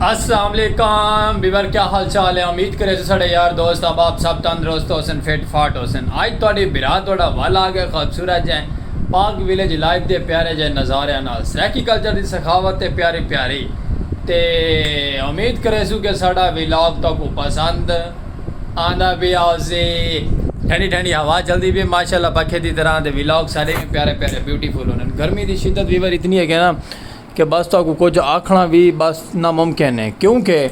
السلام علیکم بیور کیا حال چال ہے امید کرے سڑے یار دوست احباب سب تندرست ہو سن فٹ فاٹ ہو سن آج تہاڈی برا تہاڈا ول آ گئے خوبصورت جے پاک ویلیج لائف دے پیارے جے نظاریاں نال سرائیکی کلچر دی سخاوت تے پیاری پیاری تے امید کرے سو کہ ساڈا ویلاگ تو کو پسند آندا بھی آزے ٹھنڈی ٹھنڈی ہوا چلدی بھی ماشاءاللہ پکھے دی طرح دے ویلاگ سارے پیارے پیارے بیوٹیفل ہونن گرمی دی شدت ویور اتنی ہے کہ نا کہ بس تہاکوں کجھ آکھݨا وی بس ناممکن ہے کیوں کہ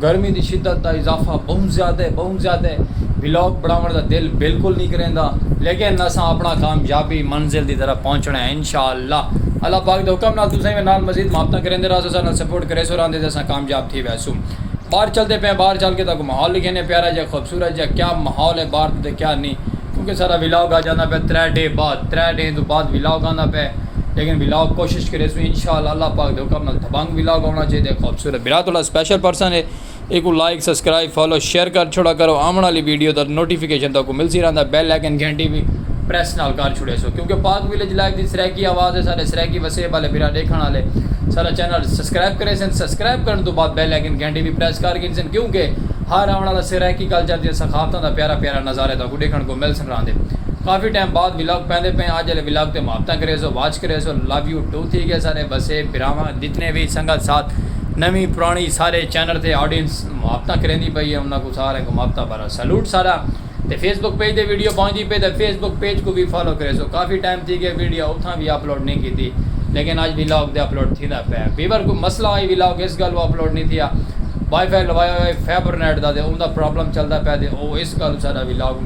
گرمی دی شدت دا اضافہ بہوں زیادہ ہے بہوں زیادہ ہے ولاگ بݨاوݨ دا دل بالکل نی کریندا لیکن اساں اپݨا کامیابی منزل دی طرف پہنچݨا ہے انشاءاللہ اللہ پاک دے حکم نال تساں وی نال مزید محبتاں کریندے راہسو اساں نال سپورٹ کریسو راہندے تے اساں کامیاب تھی ویسوں باہر چلدے پئے آں باہر چل کے تہاکوں ماحول ݙکھیندے آں پیارا جیہا خوبصورت جیہا کیا ماحول ہے باہر دا تے کیا نی کیونکہ ساݙا ولاگ اڄ آندا پئے ترے ݙینھ بعد ترے ݙینھ توں بعد ولاگ آندا پئے۔ لیکن ولاگ کوشش کرے سوں انشاء اللہ اللہ پاک دے حکم نال دبنگ ولاگ آونا چاہیے دے خوبصورت برا تھوڑا سپیشل پرسن ہے ایکو لائک سبسکرائب فالو شیئر کر چھوڑا کرو آون والی ویڈیو دا نوٹیفیکیشن تاکو ملسی رہندا بیل آئیکن گھنٹی وی پریس نال کر چھوڑے سو کیونکہ پاک ویلیج لائف دی سرائیکی آواز ہے سارے سرائیکی وسیب والے برا ڈیکھن والے سارا چینل سبسکرائب کرے سن سبسکرائب کرن تو بعد بیل آئیکن گھنٹی وی پریس کر گھن سن کیونکہ ہر آون والا سرائیکی کلچر دی سخاوتاں دا پیارا پیارا نظارے تاکو ڈیکھن کو مل سن کراندے کافی ٹائم بعد ولاگ پیندے پئیں اج آلے ولاگ تے محبتاں کریسو واچ کریسو لو یو ٹو تھی گئے سارے بسے بھراواں جتنے وی سنگت ساتھ نویں پرانی سارے چینل تے آڈینس محبتاں کریندی پئی اے انہاں کوں ساریں کوں محبتاں بھرا سلوٹ سارا تے فیس بک پیج تے ویڈیو پہنچدی پئی تے فیس بک پیج کوں وی فالو کریسو کافی ٹائم تھی گئے ویڈیو اتھاں وی اپلوڈ نی کیتی لیکن اج ولاگ تے اپلوڈ تھیندا پئے ویور کوئی مسئلہ آئی ولاگ اس گالوں اپلوڈ نی تھیا وائی فائی لوایا ہویا اے فیبر نیٹ دا تے اوندا پرابلم چلدا پئے تے او اس گالوں سارا ولاگ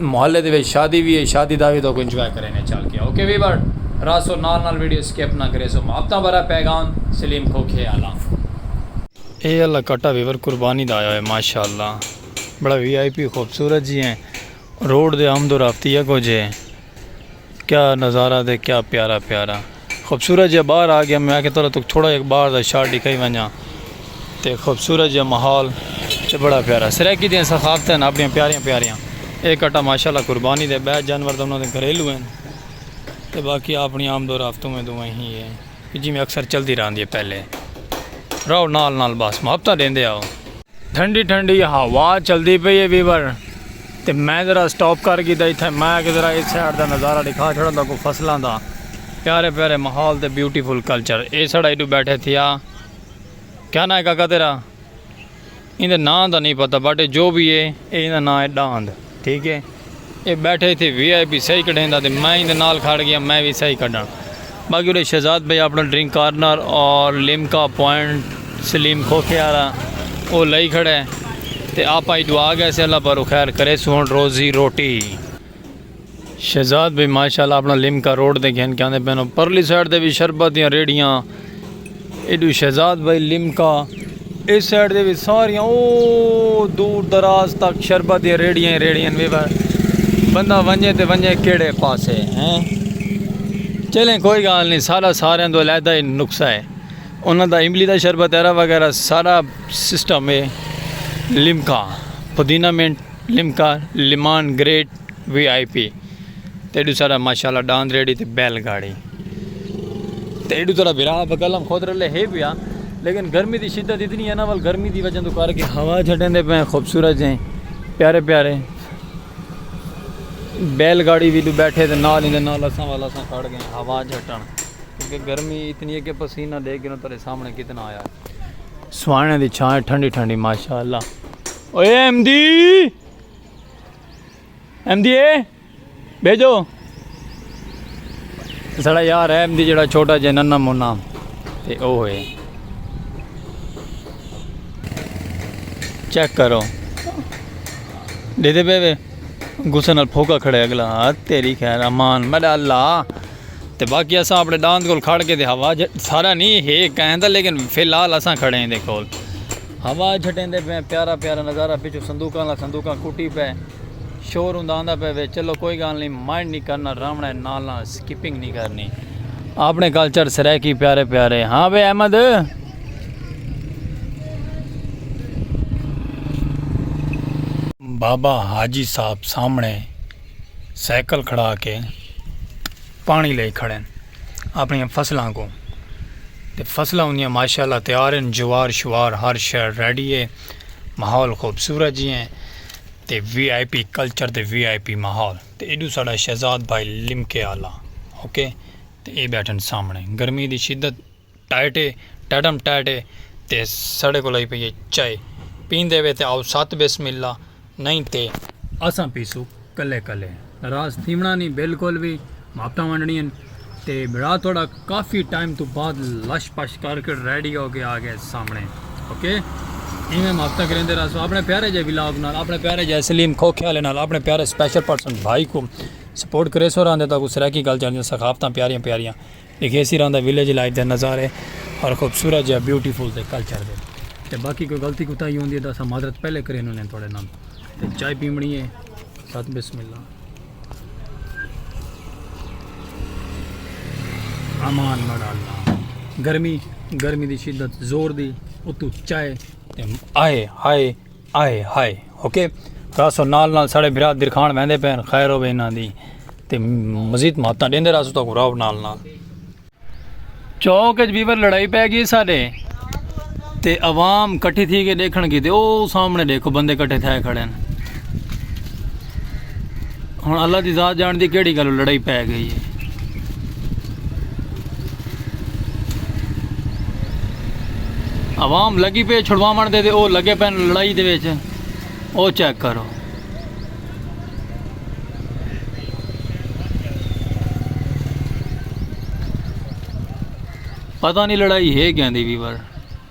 محلے دے وچ شادی وی ہے شادی دا وی تو انجوائے کرینے چل کے اوکے ویور راسو نال نال ویڈیو سکپ نہ کریسو محبتاں بھرا پیغام سلیم کھوکھے آلا۔ اے آلا کٹا ویور قربانی دا آیا ہوئے ماشاءاللہ بڑا وی آئی پی خوبصورت جی ہیں روڈ دے آمد و رفت ہی اگو جے۔ کیا نظارہ دے کیا پیارا پیارا خوبصورت جہاں باہر آ گیا میں آ کے تھوڑا تک تھوڑا جہاں باہر دا شاٹ ڈکھائی ونجا تے خوبصورت جہاں ماحول تے بڑا پیارا سرائیکی دیاں ثقافتیں ہیں اپنی پیاریاں پیاریاں اے کٹا ماشاءاللہ قربانی دے بیت جانور دا انہاں دے گھریلو ہیں تے باقی اپنی آمد و رفت میں دو ہیں ہی ہیں کہ جیویں اکثر چلدی رہندی ہے پہلے رہو نال نال بس محبتاں ڈیندے آؤ۔ ٹھنڈی ٹھنڈی ہوا چلدی پئی ہے ویور تے میں ذرا سٹاپ کر گھیدا اتھے میں کہ ذرا اے سائیڈ دا نظارہ ڈکھا چھوڑاں تہاکوں کو فصلاں دا پیارے پیارے ماحول تے بیوٹیفل کلچر اے ساڈا ایڈو بیٹھے تھیا کیا ناں ہے کاکا تیرا ایندے ناں دا نئیں پتہ بٹ اے جو وی اے اے ایندا ناں اے ڈاند ٹھیک اے اے بیٹھے ایتھے وی آئی پی سہی کڈھیندا تے میں ایندے نال کھڑ گیاں میں وی سہی کڈھاں باقی اڈے شہزاد بھائی اپنا ڈرنک کارنر اور لیمکا پوائنٹ سلیم کھوکھے آلا او لئی کھڑے تے آپاں ای دعا گیسے اللہ بھرو خیر کریسوں ہن روزی روٹی شہزاد بھائی ماشاءاللہ اپنا لمکا روڈ دے گھن کے آندے پینو پرلی سائیڈ دے بھی شربت دیاں ریڑیاں ایڈو شہزاد بھائی لمکا اس سائیڈ دے بھی ساریاں او دور دراز تک شربت دیاں ریڑیاں ہی ریڑیاں بھی بندہ ونجے تے ونجے کیڑے پاسے ہیں چلیں کوئی گال نہیں سارا سارے دو علیحدہ ہی نقصہ ہے انہوں دا املی دا شربت ایرا وغیرہ سارا سسٹم ہے Limca پودینہ minute Limca لیمان great V I پی تے ایڈو سارا ماشاءاللہ ڈاند ریڈی تے بیل گاڑی تے ایڈو سارا بھرا بکلم خود رلے ہے پیا لیکن گرمی دی شدت اتنی ہے نا ول گرمی دی وجہ تو کر کے ہوا چھٹیں دے پہ خوبصورت جیں پیارے پیارے بیل گاڑی بھی دو بیٹھے تے نال ہی دے نال اساں والا اساں کھڑ گئے ہوا جھٹن کیونکہ گرمی اتنی ہے کہ پسینہ دے گروں تیرے سامنے کتنا آیا ہے سوانے دی چھائیں ٹھنڈی ٹھنڈی ماشاءاللہ اوے احمدی احمدی اے بھیجو سڑا یار ہے احمدی جڑا چھوٹا جے ننا منا تے او ہوئے چیک کرو دے دے بے بے غصے نال پھوکا کھڑے اگلا تیری خیر امان میرا اللہ تے باقی اساں اپنے داند کول کھڑ کے تے ہوا سارا نہیں ہے کہیں دا لیکن فی الحال اساں کھڑے ہیں دے کول ہوا جھٹیندے پئے پیارا پیارا نظارہ پچھوں صندوقاں لا صندوقاں کٹی پئے شور ہوندا آندا پئے وے چلو کوئی گال نی مائنڈ نی کرنا راونڑے نال نال اسکپنگ نی کرنی آپنڑے کلچر سرائیکی پیارے پیارے ہاں وے احمد بابا حاجی صاحب سامنے سائیکل کھڑا کے پانی لئی کھڑے ہیں اپݨیاں فصلاں کوں تے فصلاں اوندیاں ماشاءاللہ تیار ہن جوار شوار ہر شے ریڈی ہے ماحول خوبصورت جی ہیں تے وی آئی پی کلچر تے وی آئی پی ماحول تے ایڈو ساڈا شہزاد بھائی لمکے آلا اوکے تے اے بیٹھن سامنے گرمی دی شدت ٹائٹ اے ٹائٹم ٹائٹ اے تے ساڈے کول آئی پئی اے چائے پیندے وے تے آؤ ست بسم اللہ نئیں تے اساں پیسوں کلے کلے ناراض تھیونڑاں نی بالکل وی ماپٹاں ونڈنڑیاں تے بھرا تہاڈا کافی ٹائم توں بعد لش پش کر کے ریڈی ہو کے آ گئے سامنے اوکے ایویں ماپٹاں کریندے رہسو اپنے پیارے جے ولاگ نال اپنے پیارے جے سلیم کھوکھے والے نال اپنے پیارے اسپیشل پرسن بھائی کو سپورٹ کریسو راندے تاکو سرائیکی گل چاندیاں ثقافتاں پیاریاں پیاریاں ایک ایسی ران دا ویلیج لائف دے نظارے اور خوبصورت جہاں بیوٹی فل دے کلچر دے تے باقی کوئی غلطی کو تاہی ہوندی ہے تاں اساں معذرت پہلے کرے انہوں نے تھوڑے نام تے چائے پیمنی ہے ساتھ بسم اللہ امان مڑا اللہ گرمی گرمی دی شدت زور دی اتو چائے تے آئے آئے آئے ہائے اوکے راسو نال نال ساڑے بھرا درخان ویندے پین خیر ہوے انہاں دی تے مزید ماتاں ڈیندے راسو تو کو راو نال نال چوک اچ بیور لڑائی پے گئی ساڈے تے عوام کٹھی تھی کے دیکھن کیتے او سامنے دیکھو بندے کٹھے تھے کھڑے ہیں۔ ہن اللہ دی ذات جان دی کیڑی گالو لڑائی پے گئی ہے عوام لگی پہ چھڑوا من دے دے او لگے پہ لڑائی دے ویچ او چیک کرو پتہ نہیں لڑائی ہے گیا دی بھی بار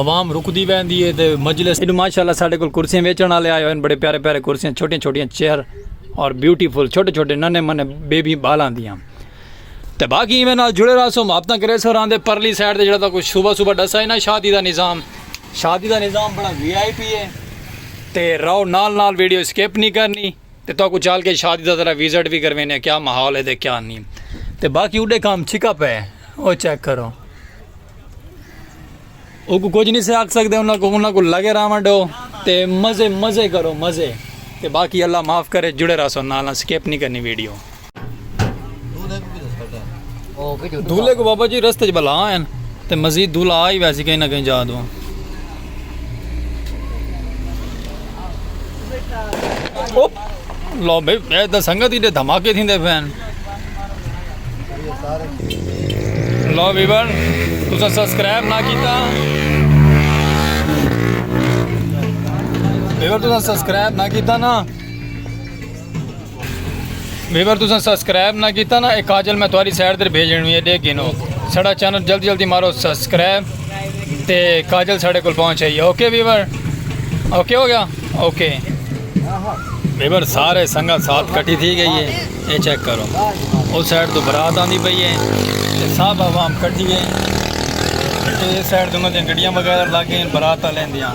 عوام رکدی ویندی ہے تے مجلس۔ ایڈو ماشاءاللہ ساڈے کول کرسیاں ویچن والے آئے ہوئے ہن بڑے پیارے پیارے کرسیاں چھوٹیاں چھوٹیاں چیئر اور بیوٹیفل چھوٹے چھوٹے ننے منے بیبی بالاں دیاں تے باقی ایویں نال جڑے رہسو محبتاں کرے سو راندے پرلی سائیڈ تے جڑا تہاکوں صبح صبح ڈسا ہی نا شادی دا نظام شادی دا نظام بڑا وی آئی پی ہے تے رہو نال نال ویڈیو سکپ نی کرنی۔ تے تہاکوں چال کے شادی دا ذرا ویزٹ وی کروینے کیا ماحول ہے تے کیا نی تے باقی اڈے کام چھکا پئے او چیک کرو اوکوں کچھ نی سے آکھ سکدے انہاں کو انہاں کو لگے راون ڈو تے مزے مزے کرو مزے تے باقی اللہ معاف کرے جڑے راسو نالا سکپ نی کرنی ویڈیو دھولے کو بابا جی رستے بلا ہیں تے مزید دھولا آ ہی ویسی کہیں نہ کہیں جا دوں لو بھائی میں تو سنگت ہی دے دھماکے تھی دے پہن لو بیبر تسا سبسکرائب نہ کیتا بیبر تسا سبسکرائب نہ کیتا نا ویور تساں سبسکرائب نہ کیتا نا اے کاجل میں تہاڈی سائڈ تے بھیج ڈینی ہے دیکھ گھنو ساڈا چینل جلدی جلدی مارو سبسکرائب تے کاجل ساڈے کول پہنچ آئی ہے اوکے ویور اوکے ہو گیا اوکے ویور سارے سنگا ساتھ کٹی تھی گئی ہے اے چیک کرو اس سائڈ تو برات آندی پئی ہے تے سب عوام کٹی ہے تے اس سائڈ تو انہاں دی گڈیاں وغیرہ لگ گئیں برات والے دیاں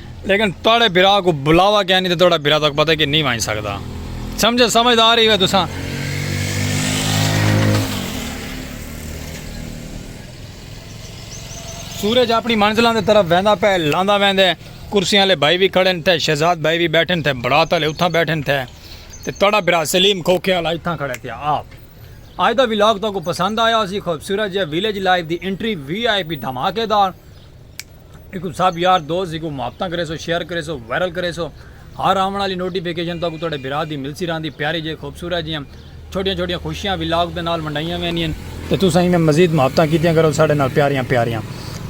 لیکن تہاڈے بھرا کوں بلاوا کینی تے تہاڈا بھرا تہاکوں پتہ کہ نی ونج سگدا سمجھے سمجھدار ہی ہوے تساں سورج اپنی منزلاں دے طرف ویندا پے لاندا ویندے کرسیاں لے بھائی بھی کھڑے تھے شہزاد بھائی بھی بیٹھے تھے برات والے اتھاں بیٹھے تھے تے تڑا برا سلیم کھوکھے والا اتھاں کھڑے تھے آپ آج دا ویلاگ تو کو پسند آیا اسی خوبصورت جے ویلیج لائف دی انٹری وی آئی پی دھماکے دار ایکو سب یار دوست ایکو محبتاں کرے سو شیئر کرے سو وائرل کرے سو ہر آون والی نوٹیفیکیشن تو کو تہاڈے بھرا دی ملسی راندی پیاری جے خوبصورت جیاں چھوٹیاں چھوٹیاں خوشیاں ولاگ دے نال منڈائیاں ویندین تے تساں ایویں مزید محبتاں کیتیاں کرو ساڈے نال پیاریاں پیاریاں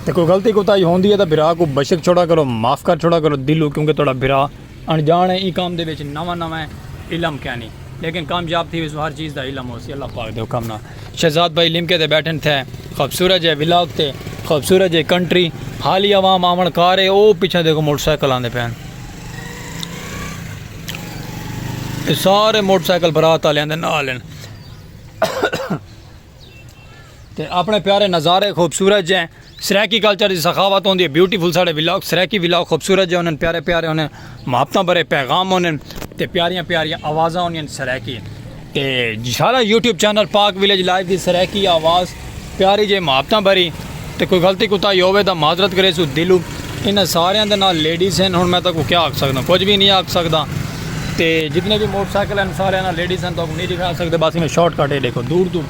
تے کوئی غلطی کوتاہی ہوندی ہے تاں بھرا کو بشک چھوڑا کرو معاف کر چھوڑا کرو دلوں کیونکہ تہاڈا بھرا انجاݨ ایں کم دے وچ نواں نواں علم کینی لیکن کامیاب تھی ویسوں ہر چیز دا علم ہوسی اللہ پاک دے حکم نال شہزاد بھائی لمکے تے بیٹھن تھے خوبصورت جے ولاگ تے خوبصورت جے کنٹری حالی عوام آون کار ہے او پیچھے دیکھو موٹر سائیکل آندے پین سارے موٹر سائیکل برات والے آندے نال ہیں تے اپنے پیارے نظارے خوبصورت جے سرائیکی کلچر دی سخاوت ہوندی ہے بیوٹیفل ساڑے ولاگ سرائیکی ولاگ خوبصورت جے انہاں پیارے پیارے انہاں محبتاں بھرے پیغام انہاں تے پیاریاں پیاریاں آوازاں انہاں سرائیکی تے سارا YouTube channel Pak village live دی سرائیکی آواز پیاری جے محبتاں بھری تے کوئی غلطی کوتاہی ہووے تاں معذرت کریسوں دلوں انہاں ساریاں دے نال لیڈیز ہن ہن میں تہاکوں کیا آکھ سکداں کجھ وی نی آکھ سکداں تے جتنے وی موٹر سائیکل ہن ساریاں نال لیڈیز ہن تہاکوں نی ڈکھا سکدے بس ایویں شارٹ کٹ اے ڈیکھو دور توں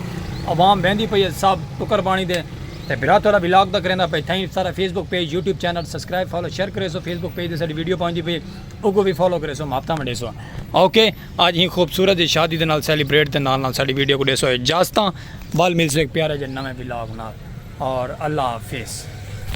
عوام بیندی پئی اے سب ٹکر پانی دے تے بھرا تہاڈا ولاگ دا کریندا پئے تھینکس سارا Facebook page YouTube channel subscribe follow share کریسو فیس بک پیج تے ساڈی ویڈیو پہنچدی پئی اے اوکوں وی فالو کریسو محبتاں ونڈیسو اوکے اج ہی خوبصورت جی شادی دے نال سیلیبریٹ تے نال نال ساڈی ویڈیو کوں ڈیسو اجازتاں ول ملسوں ہک پیارے جے نویں ولاگ نال اور اللہ حافظ۔